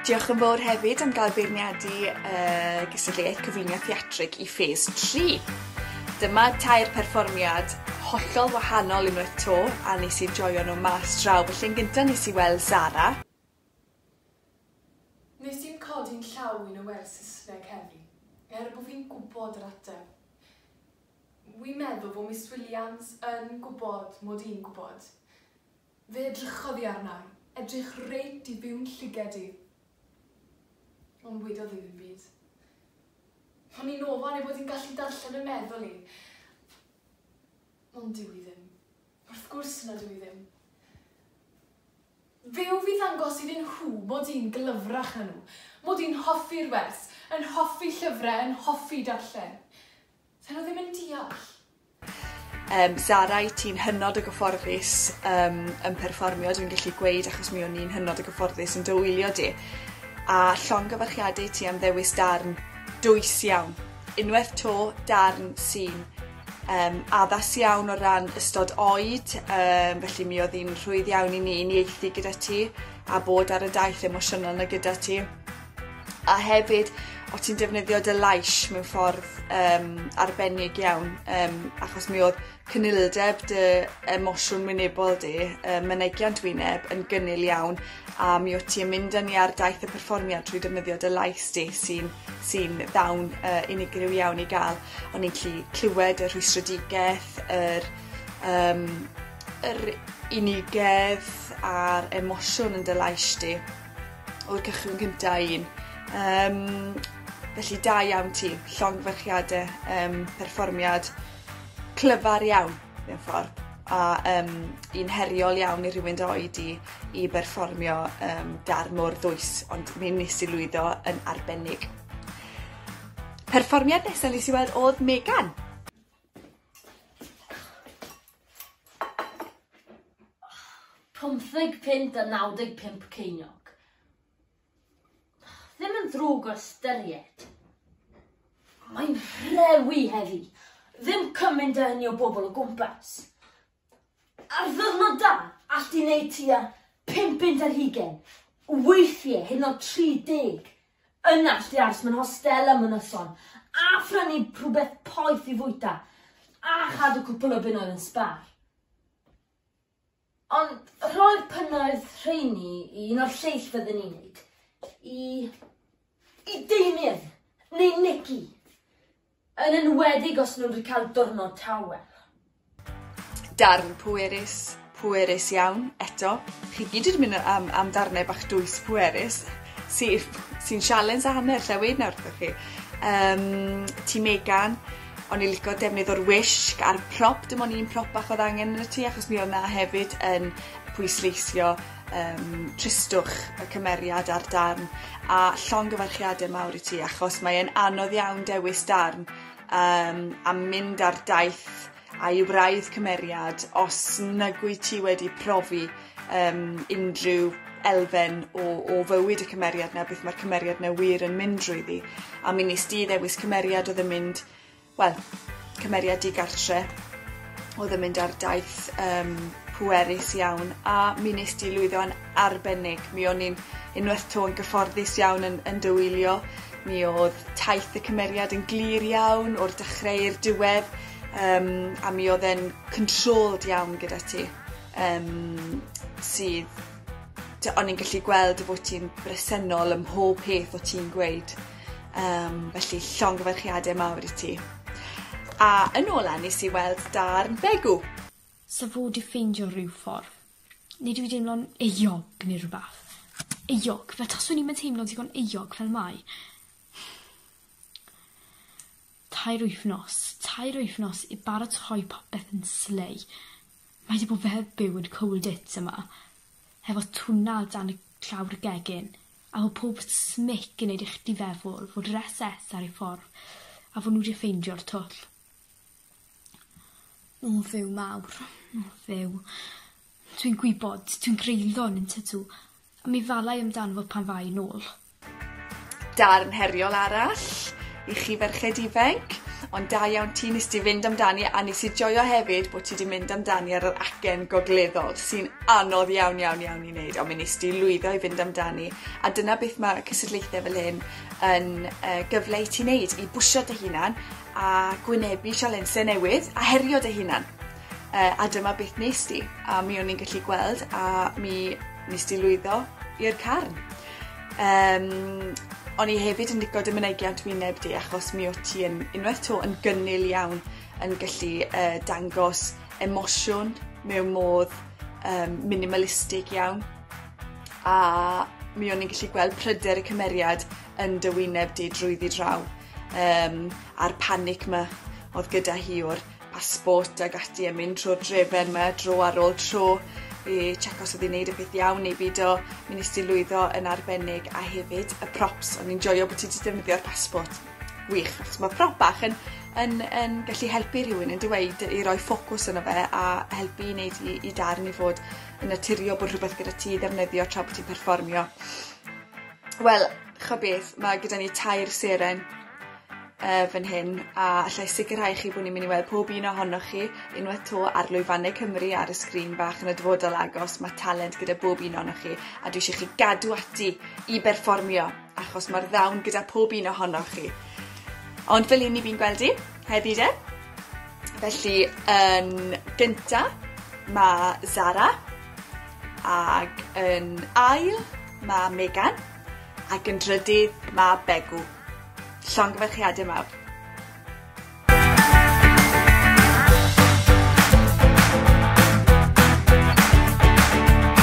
Diolch yn fawr hefyd am gael beirniadu uh, gysylltiaeth cyflwyniad theatrig i ffes 3. Dyma tair perfformiad hollol wahanol unwaith to a nes i joio nhw mas draw. Felly'n gyntaf nes i weld Zara, Nes i'm codi'n llaw i na wers Saesneg heddi, er bo fi'n gwbod yr ateb. Wi'n meddwl bo Miss Williams yn gwbod mod i'n gwbod. Fe edrychodd i arna i, edrych reit i fiwn llyged i, ond wedodd hi ddim byd. O'n i'n ofal ei fod hi'n gallu darllen 'y meddwl i, ond dyw hi ddim. Wrth gwrs na dw i ddim. Fe ŵf i ddangos iddyn nhw mod i'n glyfrach na nhw, mod i'n hoffi'r wers, yn hoffi llyfrau, yn hoffi darllen. Dyn nhw ddim yn deall. Yym, Zara, i ti'n hynod o gyfforddus um, yn perfformio, dwi'n gallu gweud, achos mi o'n i'n hynod o gyfforddus yn dywylio di. A llongyfarchiadau ti am ddewis darn dwys iawn. Unwaith to, darn sy'n um, addas iawn o ran ystod oed, um, felly mi oedd hi'n rhwydd iawn i ni i nieithi gyda ti a bod ar y daith emosiynol na gyda ti. A hefyd, o ti'n defnyddio dy lais mewn ffordd um, arbennig iawn, um, achos mi oedd cynilyldeb dy emosiwn wynebol di, um, mynegiant wyneb yn gynnil iawn, a mi oedd ti'n mynd â ni ar daith y perfformiad trwy defnyddio dy lais di sy'n sy ddawn uh, unigryw iawn i gael. O'n i'n gallu clywed y rhwystredigaeth, yr yym yr unigedd a'r emosiwn yn dy lais di o'r cychwyn cynta un. Yym felly da iawn ti. Llongyfarchiade yym perfformiad clyfar iawn mewn ffordd a yym un heriol iawn i rywun dy oed di i berfformio yym darn mor ddwys ond mi nes i lwyddo yn arbennig. Perfformiad nesa nes i weld odd Megan. Pumtheg punt a naw deg pump ceiniog. Ddim yn ddrwg o ystyried. Mae'n rhewi heddi. Ddim cymaint a hynny o bobl o gwmpas. Ar ddiwrnodau, allt di wneud tua pump punt ar hugain, weithiau hyd yn oed 30. Yna allt di aros mewn hostel am y noson a phrynu rhywbeth poeth i fwyta a chadw cwpl o bunnoedd yn sbar. Ond rhoi'r punnoedd rheini i un o'r lleill fydden ni'n neud, i, i Damien neu Nicky. Yn enwedig os nhw'n rhcael diwrnod tawel. Darn pwerus, pwerus iawn, eto. Chi gyd wedi mynd am am darnau bach dwys pwerus sy sy'n sialens a hanner lle weud nawr wrthoch chi. Um, ti Megan, o'n i licio defnydd o'r wisg a'r prop, dim ond un prop bach oedd angen yn y tu achos mi oedd na hefyd yn pwysleisio yym tristwch y cymeriad a'r darn a llongyfarchiade mawr i ti achos mae e'n anodd iawn dewis darn yym a mynd ar daith a i wraidd cymeriad os nag wyt ti wedi profi yym unrhyw elfen o o fywyd y cymeriad 'na beth ma'r cymeriad 'na wir yn mynd drwyddi a mi wnest ti ddewis cymeriad odd yn mynd wel, cymeriad digartre oedd yn mynd ar daith um, pwerus iawn a mi nes di lwyddo yn arbennig. Mi o'n i'n unwaith to yn gyfforddus iawn yn, yn dywylio. Mi oedd taith y cymeriad yn glir iawn o'r dechrau i'r diwedd um, a mi oedd e'n controlled iawn gyda ti um, sydd o'n i'n gallu gweld y bod ti'n bresennol ym mhob peth o ti'n gweud. Um, felly, llongyfarchiadau mawr i ti. A yn ola nes i weld darn Begw. Sa fod i ffeindio rhyw ffordd. Neu dwi deimlo'n euog neu rhywbeth. Euog, fe taswn i'n teimlo digon euog fel mai. Tair wythnos, tair wythnos i baratoi popeth yn slei. Mae 'di bod fel byw yn cold it yma hefo tuna o dan y llawr gegin a fo pob smic yn neud i chdi feddwl fod yr SS ar ei ffordd a fo nhw 'di ffeindio'r twll. O Dduw mawr. O Dduw. Dwi'n gwybod, dwi'n greulon, yn tydw? A mi falai amdano fo pan fai yn ôl. Darn heriol arall i chi ferched ifainc. Ond da iawn ti, nes di fynd amdani a nes i joio hefyd bod ti di mynd amdani ar yr acen gogleddol sy'n anodd iawn iawn iawn i wneud ond mi nes di lwyddo i fynd amdani a dyna beth mae cysadlaethau fel hyn yn uh, gyfle i ti wneud i bwysio dy hunan a gwynebu sialensau newydd a herio dy hunan. Uh, a dyma beth nes di, a mi o'n i'n gallu gweld, a mi nes di lwyddo i'r carn. Um, o'n i hefyd yn licio dy mynegiant wyneb di, achos mi o ti yn unwaith to yn gynnil iawn yn gallu uh, dangos emosiwn mewn modd um, minimalistig iawn. A mi o'n i'n gallu gweld pryder y cymeriad yn dy wyneb di drwyddi draw, um, a'r panic ma oedd gyda hi o'r a sport ag ati a mynd trwy'r drefen yma dro ar ôl tro i check os oedd hi'n neud y peth iawn neu beidio. Mi nes ti lwyddo yn arbennig a hefyd y props. O'n i'n joio bod ti wedi defnyddio'r passport. Wych, achos mae prop bach yn, yn, yn gallu helpu rhywun yn dweud i roi ffocws yno fe a helpu i wneud i, i darn i fod yn naturiol bod rhywbeth gyda ti ddefnyddio tra bod ti'n perfformio. Wel, chybeth, mae gyda ni tair seren yy fan hyn a allai sicirhau chi bo' ni'n myn' i weld pob un ohonoch chi unwaith 'to ar lwyfanne Cymru ar y sgrin bach yn y dyfodol agos ma' talent gyda bob un ohonoch chi a dwi isie chi gadw ati i berfformio achos ma'r ddawn gyda pob un ohonoch chi. Ond fel 'yn ni fi'n gweld 'i heddi 'de? Felly yn gynta ma' Zara ag yn ail ma' Megan ac yn drydydd ma' Begw. Llongyfarchiade mawr.